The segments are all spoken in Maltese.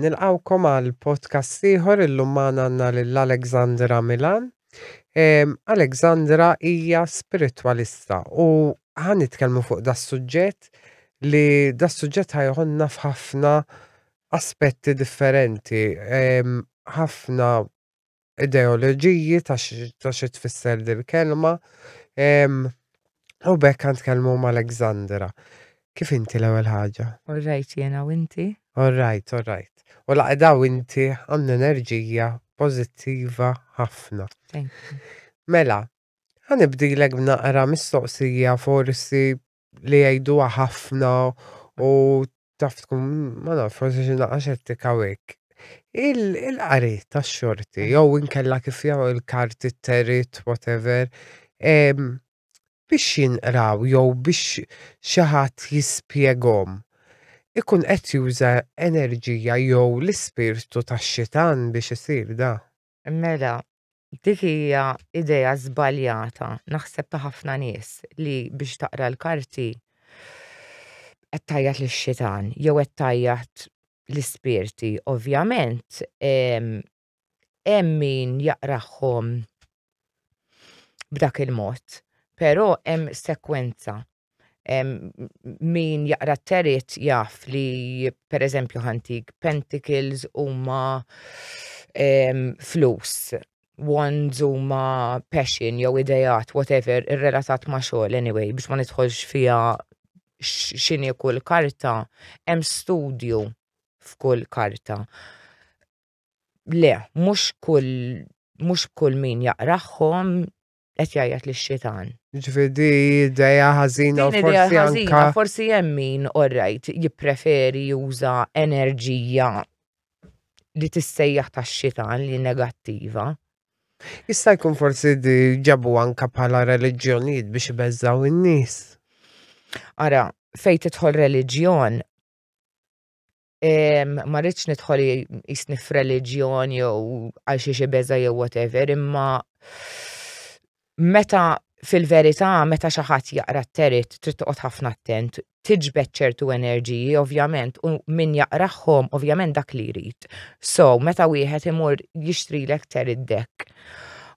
nilqawkom għal podcast ieħor illum magħna għandna lil Alexandra Milan. Alexandra hija spiritwalista u ħa nitkellmu fuq das-suġġett li das-suġġett ħa joħodna f'ħafna aspetti differenti, ħafna ideoloġiji ta' xi tfisser dil-kelma u b'hekk ħa nitkellmu mal-Alexandra. Kif inti l-ewwel ħaġa? All right jiena u inti? All right, all right. U l-għaqda u inti għandna enerġija pożittiva ħafna. Mela, Ħanibdilek b'naqra mistoqsija forsi li jgħiduha ħafna u taf tkun ma nafx forsi xi naqra xettika u hekk. Il- Il-qari tax-xorti jew inkella kif jagħmlu l-karti t-terit whatever em, biex jinqraw jew biex xi ħadd jispjegahom ikun qed juża enerġija jew l-ispirtu tax-xitan biex isir da. Mela, Dik hija idea żbaljata naħseb ta' ħafna nies li biex taqra l-karti qed tgħajjat lix-xitan jew qed tgħajjat l-ispirti. Ovvjament hemm min jaqrahom b'dak il-mod, però hemm sekwenza min jaqra t-terit jaf li per eżempju ħantik pentacles huma flus, wands huma passion jew idejat whatever irrelatat ma' xogħol anyway biex ma nidħolx fiha x'inhi kull karta hemm studju f'kull karta. Le, mhux kull mhux kull min jaqrahom qed jgħajjat li xitan. Ġifieri di idea ħażina u forsi anka. Forsi hemm min orrajt jippreferi juża enerġija li tissejjaħ tax-xitan li negattiva. Jista' jkun forsi di ġabu anka bħala reliġjonijiet biex ibeżżaw in-nies. Ara, fejn tidħol reliġjon ma rridx nidħol jisni f'reliġjon jew għal xi xi beża jew whatever, imma meta fil-verità meta xi ħadd jaqra t-terit trid toqgħod ħafna attent, tiġbed ċertu enerġiji ovvjament u min jaqrahom ovvjament dak li jrid. So, meta wieħed imur jixtrilek terit dek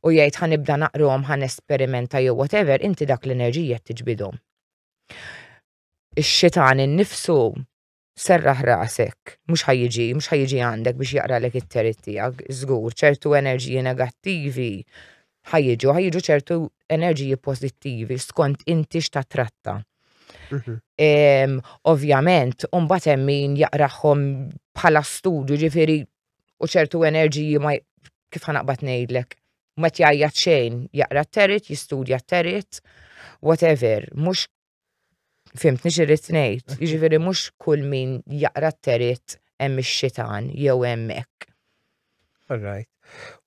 u jgħid ħanibda naqrom ħan esperimenta jew whatever, inti dak l-enerġija tiġbidhom. Ix-xitan innifsu Serraħ rasek, mhux ħa jiġi, mhux ħa jiġi għandek biex jaqralek it-terit tiegħek, żgur, ċertu enerġiji negattivi ħa jiġu, ħa jiġu ċertu enerġiji pożittivi skont inti x'tatratta. Mhm. Ovvjament, mbagħad hemm min jaqrahom bħala studju, ġifieri u ċertu enerġiji ma kif ħanaqbad ngħidlek, ma jgħajjat xejn, jaqra t-terit, jistudja t-terit, whatever, mhux Fimt, nix irrit ngħid, jiġifieri mhux kull min jaqra t-terit hemm ix-xitan jew hemm hekk. Alright.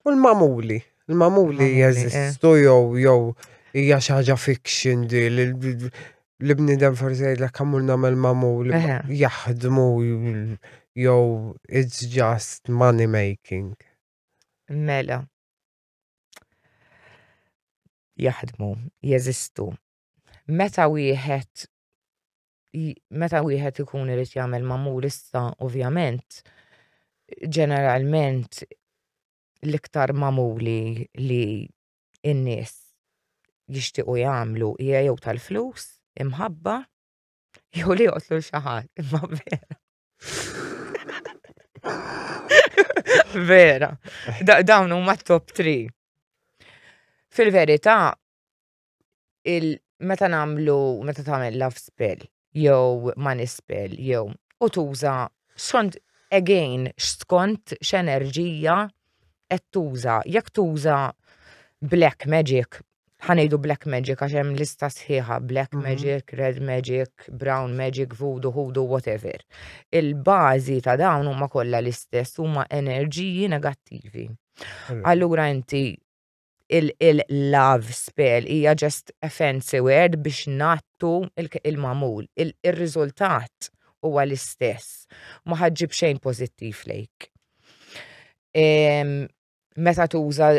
U l-mamuli? L-mamuli jeżistu eh. jew jew hija xi ħaġa fiction di l-bniedem forsi jgħidlek kamur nagħmel mamuli eh. jaħdmu jew it's just money making. Mela. Jaħdmu, jeżistu. meta wieħed meta wieħed ikun irid jagħmel mamul issa ovvjament ġeneralment l-iktar magħmuli li n-nies jixtiequ jagħmlu hija jew tal-flus, imħabba, jew li joqtlu lil xi ħadd. Imma vera. Vera. Dawn huma t-top 3. Fil-verità, meta nagħmlu meta tagħmel love spell jew money spell jew u tuża skont again skont x'enerġija qed tuża. Jekk tuża black magic, ħa ngħidu black magic għax hemm lista sħiħa black mhm. magic, red magic, brown magic, voodoo, hoodoo, whatever. Il-bażi ta' dawn huma kollha l-istess huma enerġiji negattivi. Allura inti il-love spell hija just a fancy word biex ngħattu il-magħmul. Ir-riżultat huwa l-istess. Ma ħaġġib xejn pożittiv lejk. Meta tuża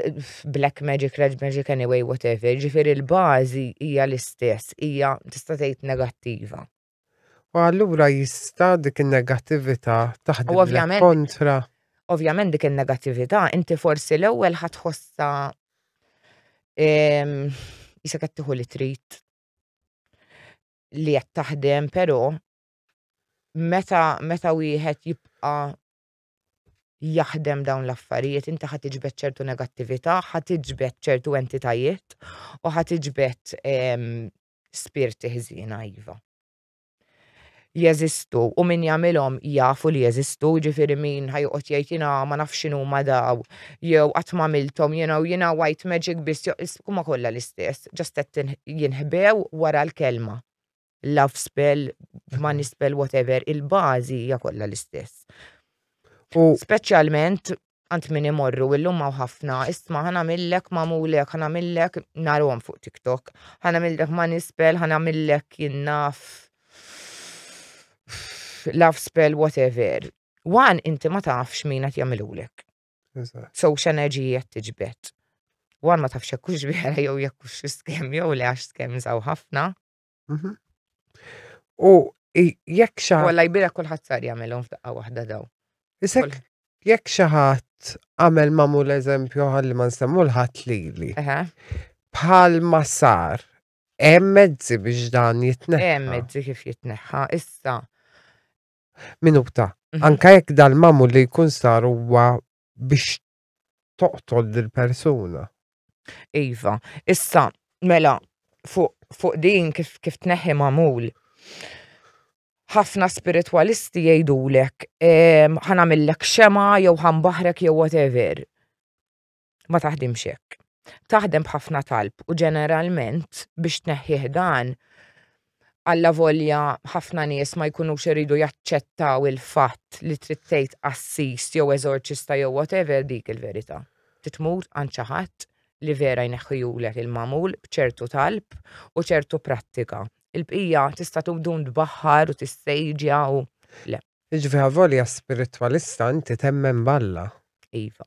black magic, red magic anyway whatever, ġifieri l-bażi hija l-istess, hija tista' tgħid negattiva. U allura jista' dik in-negattività taħdem ovvjament, kontra. Ovvjament dik in-negattività inti forsi l-ewwel ħadd ħossa ehm, jisa qed tieħu li trid li qed taħdem, però meta meta wieħed jibqa' jaħdem dawn l-affarijiet, inti ħad iġbed ċertu negattività, ħad iġbed ċertu entitajiet u ħad iġbed ehm, spirti ħżiena iva. Jeżistu u min jagħmilhom jafu li jeżistu, ġifieri min ħajqgħod jgħid jiena ma nafx x'inhu ma daw, jew qatt ma milthom jiena u jiena white magic biss huma kollha l-istess, ġast qed jinħbew wara l-kelma. Love spell, money mhm. spell, whatever, il-bażi hija kollha l-istess. Speċjalment Għand min imorru illum hawn ħafna, isma' ħa nagħmillek magħmulek, ħa nagħmillek narhom fuq TikTok, ħa nagħmillek ma nispel, ħa nagħmillek jien naf love spell whatever. Wan inti ma tafx min qed jagħmilulek. So x'enerġiji qed tiġbed. Wan ma tafx jekk hux vera jew jekk hux skemm jew le għax skemm żaw ħafna. Mhm. U jekk xa. Walla jbira kullħat sar jagħmelhom f'daqqa waħda daw. Isek jekk xi ħadd għamel mamu l-eżempju ħalli ma nsemmu l-ħadd lili. Bħal ma sar, hemm mezzi biex dan jitneħħa. Hemm mezzi kif jitneħħa issa. Minuta, mhm. anka jekk dal-mamu li jkun sar huwa biex toqtol dil-persuna. Iva, issa, mela, fuq fu din kif, kif tneħħi mamul. ħafna spiritwalisti jgħidulek, ehm, ħanamillek xema, jew ħambaħrek, jew whatever. Ma taħdimx hekk. Taħdem b'ħafna talb u ġeneralment biex tneħħih dan Allavolja ħafna nies ma jkunux iridu jaċċettaw il-fatt li trid tgħid qassis jew eżorċista jew whatever, dik il-verità. Trid tmur għand xi ħadd li vera jneħħihulek il-magħmul b'ċertu talb u ċertu prattika. Il-bqija tista' tdum tbaħħar u tissejġja u le. Jiġifieri avolja spiritwalista inti temmen b'Alla. Iva.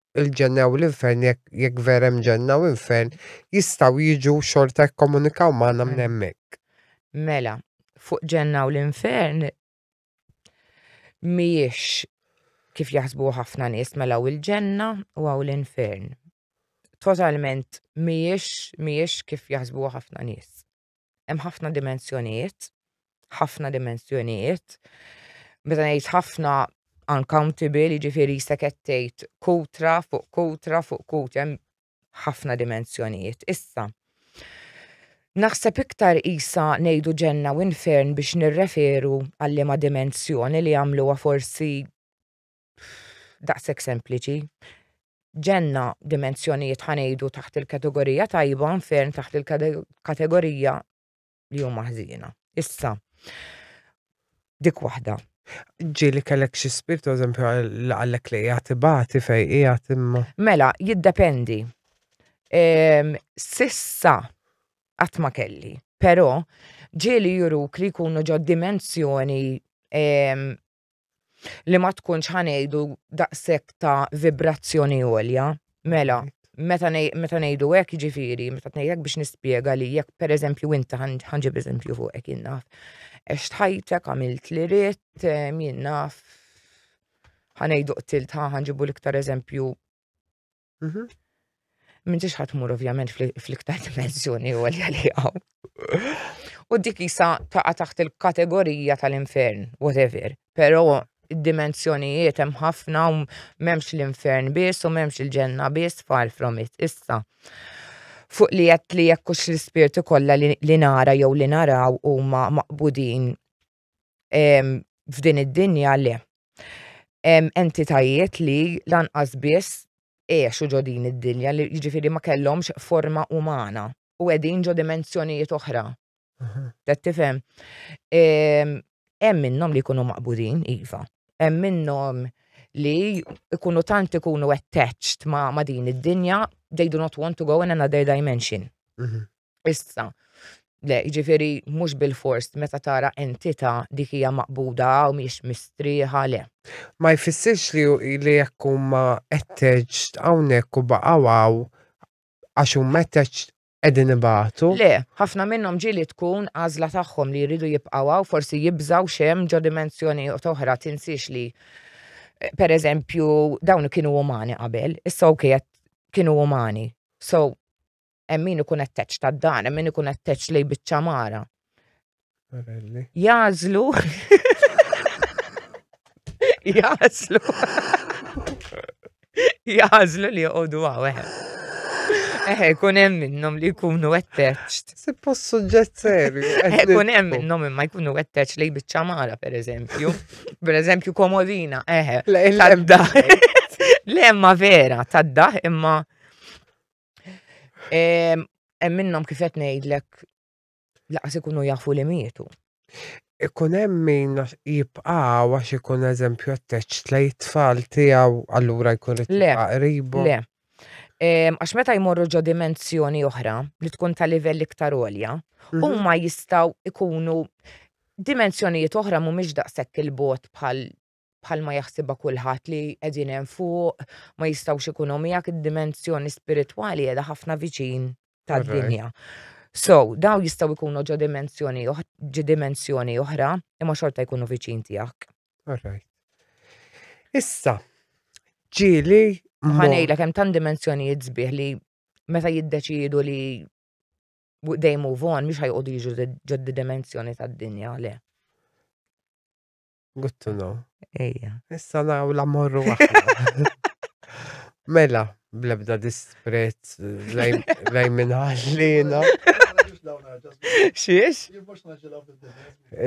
il-ġenna jew l-infern jekk jekk vera hemm ġenna u infern jistgħu jiġu xorta jikkomunikaw magħna minn hemmhekk. Mela, fuq ġenna u l-infern mhijiex kif jaħsbuha ħafna nies mela hawn il-ġenna u hawn l-infern. Totalment mhijiex mhijiex kif jaħsbuha ħafna nies. Hemm ħafna dimensjonijiet, ħafna dimensjonijiet. Meta ngħid ħafna uncountable, jiġifieri jista' qed tgħid kutra fuq kutra fuq kutra hemm ħafna dimensjonijiet. Issa, naħseb iktar isa ngħidu ġenna u infern biex nirreferu għal-liema dimensjoni li jagħmluha forsi daqshekk sempliċi. Ġenna dimensjonijiet ħanejdu taħt il-kategorija tajba nfern taħt il-kategorija li huma ħżiena. Issa, dik waħda. Ġili kellek xi spirtu, eżempju, għallek li jgħati bati fej jgħati imma. Mela, jiddependi. Ehm, sissa għatma kelli, pero ġili juruk li jkunu ġo dimensjoni ehm, li ma tkunx ħanejdu daqshekk ta' vibrazzjoni għolja. Mela, meta ngħidu hekk ġifieri, meta tnejdu hekk biex nispjega li jekk pereżempju inti ħanġib eżempju fuq hekk jien naf. Għax tħajtek għamilt li ritt jien naf ħanejdu qtilt ħanġibu l-iktar eżempju Mhm. Minn ġiex ħatmur ovvjament fl-iktar dimensjoni u għalja li għaw. U dik jisa taqa taħt il-kategorija tal-infern, whatever. Pero id-dimensjonijiet hemm ħafna u memx l-infern biss u memx il-ġenna biss far from it. Issa, fuq li jett li jekkux l-spirti kollha li nara jew li naraw huma maqbudin f'din id-dinja le. Hemm entitajiet li lanqas biss għexu ġo din id-dinja li jiġifieri ma kellhomx forma umana u qegħdin ġo dimensjonijiet oħra. Qed tifhem? Hemm minnhom li jkunu maqbudin, iva. Hemm minnhom li jkunu tant ikunu attached ma' din id-dinja they do not want to go in another dimension. Issa, le, jiġifieri mhux bilfors meta tara entità dik hija maqbuda hawn mhix mistrieħa, le. Ma jfissirx li li jekk huma attached hawnhekk u baqgħu hawn għax huma attached qegħdin ibatu. Le, ħafna minnhom ġieli tkun għażla tagħhom li jridu jibqgħu hawn, forsi jibżgħu x'hemm ġo dimensjonijiet oħra, tinsiex li pereżempju dawn kienu umani qabel, issa ok qed kienu umani. So, hemm min ikun etteċ ta' dan, hemm min ikun etteċ lej biċċa mara. Jażlu. Jażlu. Jażlu li joqogħdu hawn. Eh, kun hemm minnhom li jkunu attached. Se post suġġett serju. Eh, kun hemm minnhom imma jkunu attached lej biċċa mara pereżempju. Pereżempju komodina, eh. Tadda. Le imma vera, tadda imma Hemm minnhom kif qed ngħidlek laqas ikunu jafu li mietu. Ikun hemm min jibqa' għax ikun eżempju għatteċ tlej tfal tiegħu allura jkun tibqa' qribu. Le. Għax meta jmorru ġo dimensjoni oħra li tkun ta' livell iktar għolja, mhm. huma jistgħu ikunu dimensjonijiet oħra mhumiex daqshekk il-bot bħal bħalma jaħsibha kulħadd li qegħdin hemm fuq ma jistgħux ikunu miegħek id-dimensjoni spiritwali qiegħda ħafna viċin tad-dinja. So, daw jistgħu jkunu ġo dimensjoni ġi dimensjoni oħra imma xorta jkunu viċin tiegħek. Alright. Issa, ġieli ħanejla kemm tan dimensjonijiet sbieħ li meta jiddeċidu li they move on, mhux ħajqogħdu jiġu ġoddi dimensjoni tad-dinja le. Good to know. Ejja. Issa naw la morru aħna. Mela, blebda disprezz lej minn ħallina. Xiex?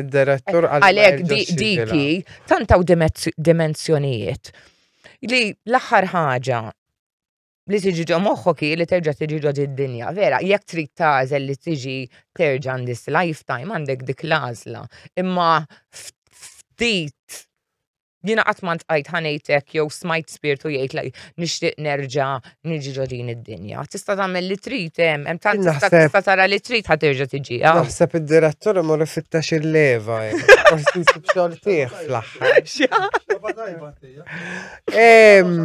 Id-direttur għalek diki, tantaw dimensjonijiet. Li l-axar ħaġa li tiġi ġo moħħok hi li terġa' tiġi ġo id-dinja, vera, jekk trid tagħżel li tiġi terġa' in this lifetime għandek dik l-għażla. Imma ftit jiena qatt ma ntqajt ħa ngħid hekk jew smajt spirtu jgħid li nixtieq nerġa' niġi ġo din id-dinja. Tista' tagħmel li trid hemm, hemm tant tista' Naħseb- tista' tara li trid ħa terġa' tiġi. ah. Naħseb id-direttur imur ifittex il-leva. eh. Forsi nsib xogħol tiegħek fl-aħħar. Em,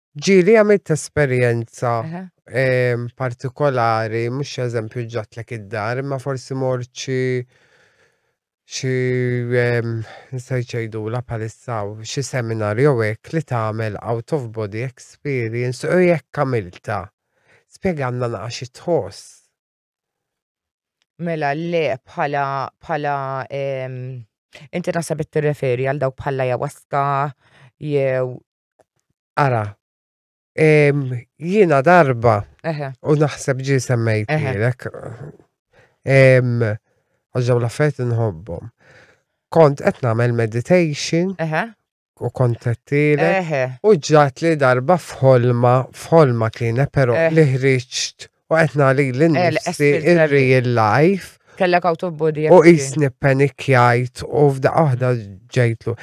Ġili għamilt esperjenza Eħe. em, partikolari, mux eżempju ġatlek id-dar, ma forsi mort xi xi em, nista' jċejdu la palissaw, xi seminar jew hekk li tagħmel out of body experience u jekk għamilta. Spjeganna naqa xi tħoss. Mela le bħala bħala inti naħseb qed tirreferi għal dawk bħala jawaska jew Ara, jiena darba u naħseb ġi semmejt lilek. Għaġġaw l-affet nħobbom. Kont qed nagħmel meditation u kontettiele. Eħe. U ġat li darba f'ħolma, f'ħolma kienet pero eh. li ħriġt u qed nagħli l-nifsi il-real life. Kellek autobody. U jisni panikjajt u f'da oħda ġejtlu.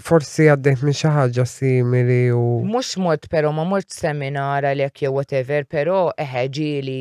Forsi għaddejt minn xi ħaġa simili u. Mhux mod però ma mort seminar għalhekk jew whatever, però eħe ġieli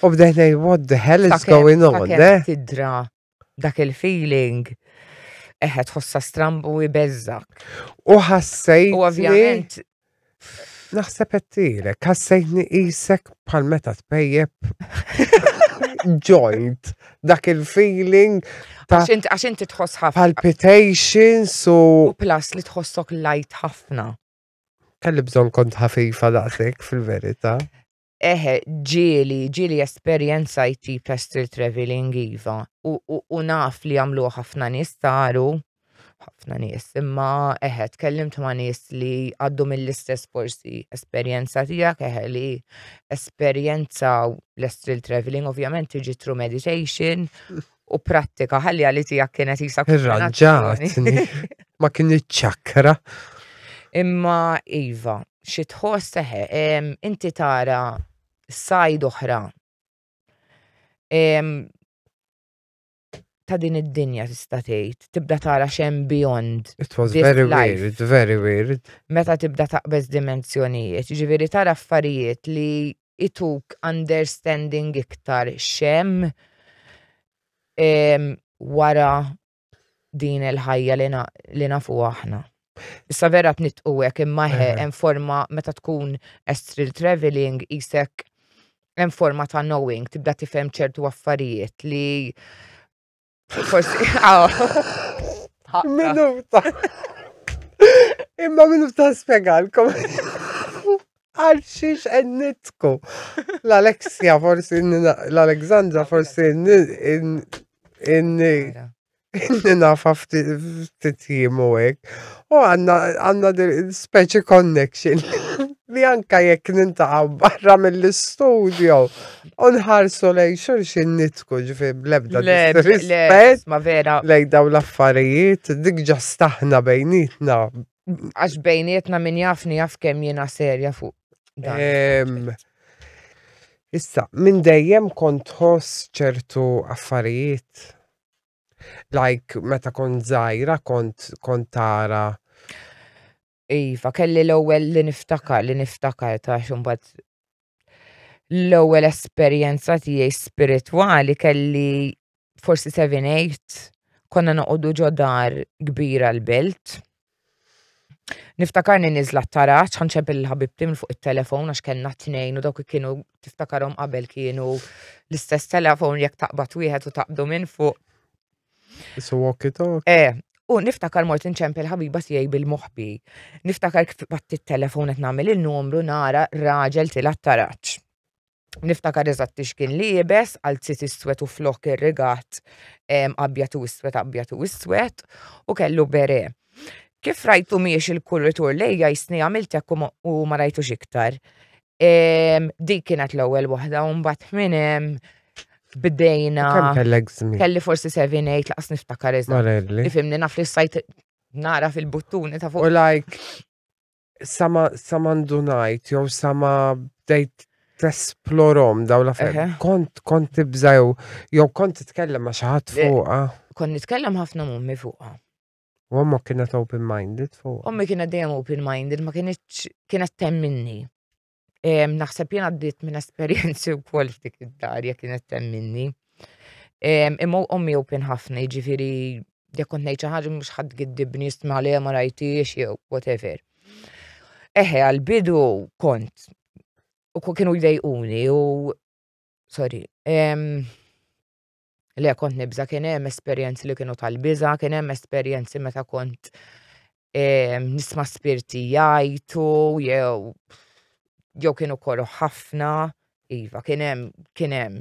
U bdejt ngħid what the hell is going on? Eh? Tidra dak il-feeling eħed ħossa strambu jbeżżak. U ħassejt. U ovvjament. Naħseb għettilek, ħassejtni isek bħal meta tpejjeb joint dak il-feeling Għax inti tħoss ħafna. Palpitations u. U plus li tħossok light ħafna. Kelli bżon kont ħafifa daqsek fil-verita. Eħe, ġieli, ġieli esperjenza t-tip ta' street travelling iva. U naf li jagħmluha ħafna nies saru, ħafna nies, imma eħe tkellimt ma' nies li għaddu mill-istess forsi esperjenza tiegħek eħe li esperjenzaw l-street travelling, ovvjament tiġi through meditation U prattika, ħalli għalli tijak kienet jisa Irranġatni, ma kienet ċakra. Imma Iva, xi tħoss teħe, inti tara sajd oħra ta' din id-dinja tista' tgħid, tibda tara xem beyond. It was very life. weird, very weird. Meta tibda taqbeż dimensjonijiet, ġifieri tara affarijiet li ituk understanding iktar xem wara din il-ħajja li nafu aħna. Issa vera t-nitqu għek imma hemm forma meta tkun astral traveling jisek hemm forma ta' knowing, tibda tifhem ċertu affarijiet li Forsi, għaw. Minnu ta' imma minnu ta' spiegalkom. Għal xiex ennitku. L-Alexia forsi, l-Alexandra forsi, nafa ftit jimu għek. U għanna għanna speċi connection li anka jekk nintaqaw barra mill-studio. Unħarsu lej xurxin nitku ġifi blebda rispet. Ma vera. Lej daw l-affarijiet, dik ġa staħna bejnietna. Għax bejnietna min jafni jaf kem jena serja fuq. Issa, minn dejjem kont ħoss ċertu affarijiet. Like, meta kont zaħira, kont kont tara. Iva, kelli l-ewwel li niftakar, li niftakar ta' xumbat l-ewwel esperjenza tiegħi spiritwali kelli forsi 7-8 konna noqogħdu ġo dar kbira l-belt. Niftakarni niżla t-taraġ, ħanċep il-ħabibti minn fuq it-telefon għax kellna t-tnejn u dawk kienu tiftakarhom qabel kienu l-istess telefon jekk taqbad wieħed u taqbdu minn fuq. So walk it talk. Eh, u niftakar mort inċempel ħabiba tiegħi bil-moħbi. Niftakar kif batt it-telefon qed nagħmel il-numru nara raġel tila taraċ. Niftakar eżatt ix kien liebes, għalzit iswed u flok ir-rigat abjad u iswed abjad u iswed u kellu bere. Kif rajtu miex il-kuritur lejja jisni għamilt hekk u ma rajtux iktar. Dik kienet l-ewwel waħda u mbagħad minn hemm bdejna. Kemm kellek żmien? Kelli forsi 7-8 laqas niftakar iżda. Ifimni naf li sajt nara fil-buttuni ta' fuq. U like sama sama ndunajt jew sama bdejt tesplorom daw la ferm. Eh. Kont kont tibżaw jew kont titkellem ma' xi ħadd fuqha. Kont nitkellem ħafna mummi fuqha. U għamma kienet open-minded fuq. Ommi kienet dejjem open-minded, ma kienet kienet temminni. Naħseb jena għaddit minn esperienzi u kol f'dik id-darja kienet temminni. Imma ommi open ħafna, ġifiri, jek kont nejċa ħagġa mux ħad giddibni jistma li ma rajtiex, jew whatever. Eħe, għal-bidu kont. U kienu jdejquni u. Sorry. Le, kont nibża, kien hemm esperjenzi li kienu tal-biża, kien hemm esperjenzi meta kont ehm, nisma' spirti jajtu, jew jew kienu koroħ ħafna, iva, kien hemm kien hemm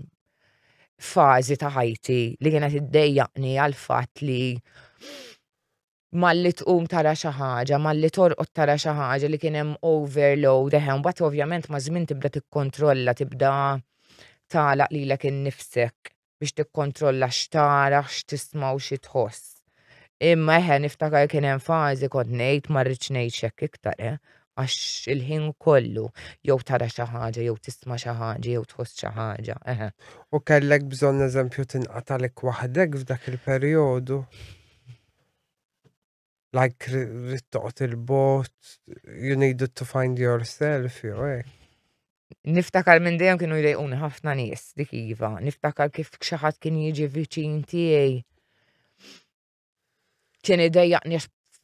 fażi ta' ħajti li kienet iddejjaqni għal fatt li malli tqum tara xi ħaġa, malli torqod tara xi ħaġa li kien hemm overload, eħe, mbagħad ovvjament maż-żmien tibda tikkontrolla, tibda tagħlaq lilek innifsek biex tikkontrolla x'tara, x'tisma' u xi tħoss. Imma eħe niftakar kien hemm fażi kont ngħid ma rridx ngħix hekk iktar, eh, għax il-ħin kollu jew tara xi ħaġa, jew tisma' xi ħaġa, jew tħoss xi ħaġa, eħe. U kellek bżonn eżempju tinqatagħlek waħdek f'dak il-perjodu? like rittoqt il-bot, you needed to find yourself, jew hekk. Niftakar minn dejjem kienu jdejquni ħafna nies dik iva. Niftakar kif xi ħadd kien jiġi viċin tiegħi. Kien idejjaqni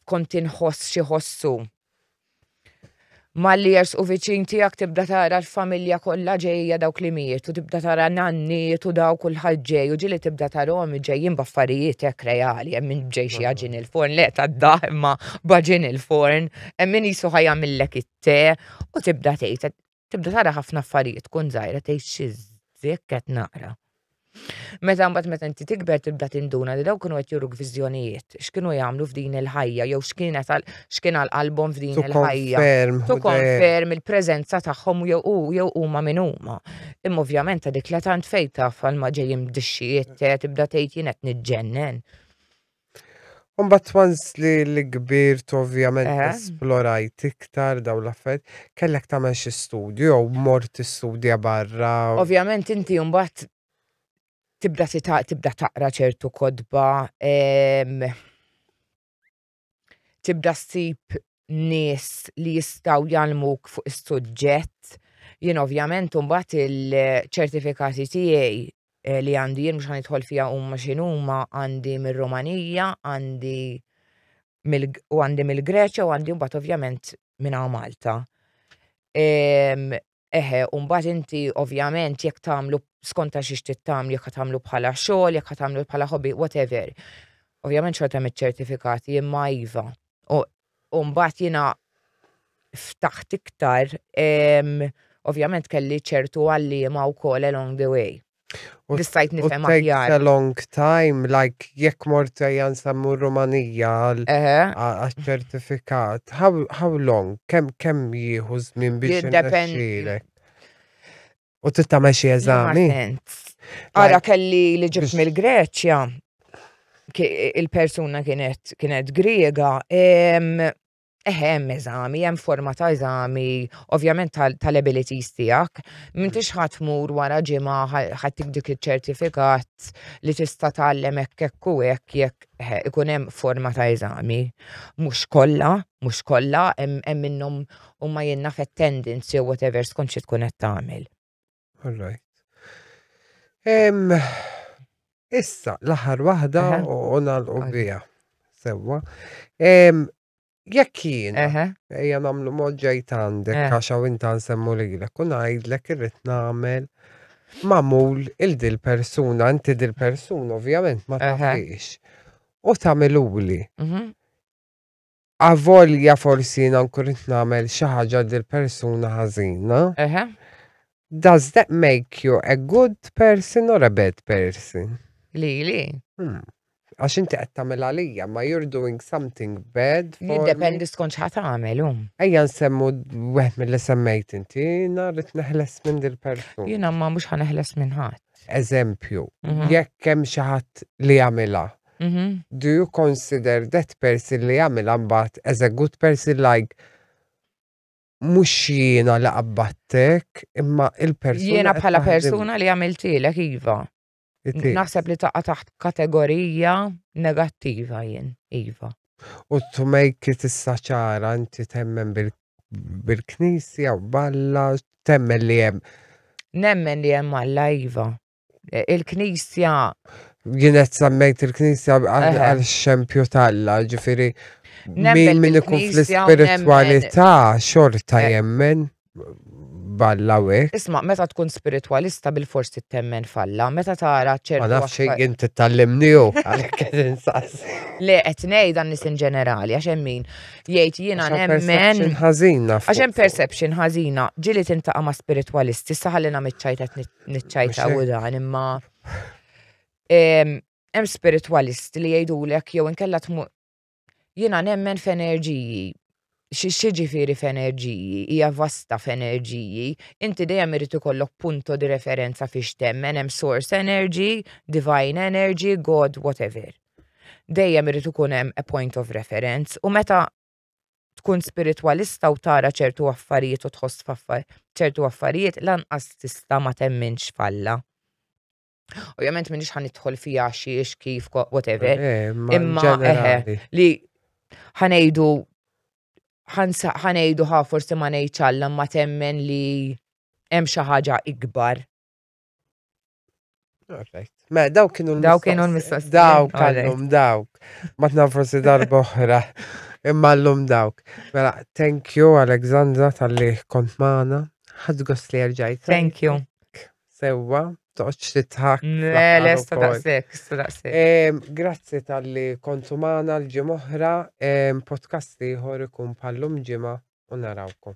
kont inħoss xi ħossu. Malli jersqu viċin tiegħek tibda tara l-familja kollha ġejja dawk li mietu, tibda tara nanniet u daw kulħadd ġej u ġili tibda tarhom ġejjin b'affarijiet hekk reali, hemm min ġej xi għaġin il-forn, le tad-daħ imma b'għaġin il-forn, hemm min qisu ħa jagħmillek it-te u tibda tgħid Tibda tara ħafna affarijiet tkun żgħira tgħid xi żjek qed naqra. Meta mbagħad meta inti tikber tibda tinduna li dawk kienu qed juruk viżjonijiet, x'kienu jagħmlu f'din il-ħajja jew x'kienet għal x'kien għal qalbhom f'din il-ħajja. Tu konferm il-preżenza tagħhom jew hu jew huma min huma. Imma ovvjament ta' dik la tant fejn taf għal ma ġejjin bdixxijiet tibda tgħid jien qed niġġennen. Umbat once li l-kbir ovvjament eh. esplorajt iktar daw l-affarijiet, kellek tagħmel xi studju jew mort istudja barra. Ovvjament inti umbat tibda tibda taqra ċertu kodba, ehm, tibda ssib nies li jistaw jalmuk fuq is-suġġett. Jien ovvjament umbat il-ċertifikati tiegħi li għandi jien mhux ħanidħol fiha huma x'inhuma għandi mir-Rumanija, għandi u għandi mill-Greċja u għandi mbagħad ovvjament minn Malta. Ehm, eħe, u mbagħad inti ovvjament jekk tagħmlu skonta xiex tittamlu, jekk tagħmlu bħala xogħol, jekk tagħmlu bħala hobby, whatever. Ovvjament xorta mit-ċertifikati imma iva. U U mbagħad jiena ftaħt iktar, ovvjament kelli ċertu għalliema wkoll along the way. U li stajt nifhem aħjar. It takes a long time, like jekk mort ejja nsemmu Rumanija għal-ċertifikat. How, how long? Kemm kemm jieħu żmien biex jiddependi. U trid tagħmel xi eżami. Ara kelli li ġibt mill-Greċja, il-persuna kienet kienet Griega, Eħem, eżami, hemm forma ta' eżami, ovvjament tal-abilities tiegħek. M'intix ħadd mur wara ġimgħa ħadd dik iċ-ċertifikat li tista' tgħallem hekk hekk u hekk jekk ikun hemm forma ta' eżami. Mhux kollha, mhux kollha, hemm minnhom u ma jenna attendance jew whatever skont xi tkun qed tagħmel. All right. Issa, l-aħħar waħda u nagħlqu biha. Sewwa. Jekk jien, ejja nagħmlu mod ġejt għandek eh. għax hawn inta nsemmu lilek u ngħidlek irrid nagħmel mamul il-dil persuna, inti dil persuna ovvjament ma tafix. U tamiluli. Mhm. Avolja forsi jiena nkun qed nagħmel xi ħaġa lil persuna ħażina. Eħe. Does that make you a good person or a bad person? Lili? Hmm. Għax inti qed tagħmel għalija, ma you're doing something bad for me. Jiddependi skont x'ħa tagħmel hu. Ejja nsemmu wieħed milli semmejt inti, jiena rrid neħles minn dil-persuna. Jiena ma mhux ħa neħles minn ħadd. Eżempju, Mhm. jekk hemm xi ħadd li jagħmilha, Do you consider that person li jagħmilha mbagħad as a good person like mhux jiena li qabbattek imma il-persuna. Jiena bħala persuna li għamiltilek iva. Naħseb li taqa' taħt kategorija negattiva jien, iva. U to make it issa ċara inti temmen bil-knisja u balla temmen li hemm. Nemmen li hemm Alla iva. il-knisja. Għinet sammejt il-knisja għal xempju talla, ġifiri. Min min ikun fl-spiritualità xorta eh. jemmen balla wek. Isma, meta tkun spiritualista bil-fors temmen falla, meta tara ċertu. Ma nafx jien titallimniju għalhekk qed insaqs. Le qed ngħid dan nies ġenerali għax hemm min jgħid jiena nemmen. Ħażina. Għax hemm perception ħażina, ġili tintaqa' ma' spiritualisti, saħalina miċċajt qed niċċajta u dan imma hemm spiritwalisti li jgħidulek jew inkella tmur jiena nemmen f'enerġiji xi ġifieri f'enerġiji hija vasta f'enerġiji inti dejjem irid ikollok punto di referenza fiex temmen hemm source energy, divine energy, God, whatever. Dejjem irid ikun hemm a point of reference u meta tkun spiritwalista u tara ċertu affarijiet u tħoss ċertu affarijiet lanqas tista' ma temminx f'Alla. Ovvjament minix ħan idħol fija xiex kif whatever. Eh, eh, Imma eh, li ħanejdu ħanejdu ħa forsi ma ngħidx Alla ma temmen li hemm xi ħaġa ikbar. Ma daw kienu l-mistoqsijiet. Daw kienu l-mistoqsijiet. Daw kallum dawk. Ma tnam forsi darba oħra. Imma l-lum dawk. Mela, thank you Alexandra tal-li kont maħna. Ħad gost li għarġajt. Thank you. Sewa, toċ li tħak. Mela, sta daqsek, sta daqsek. Grazzi tal-li kontu maħna l-ġim oħra. Podcast li ħor ikun pallum ġima u narawkom.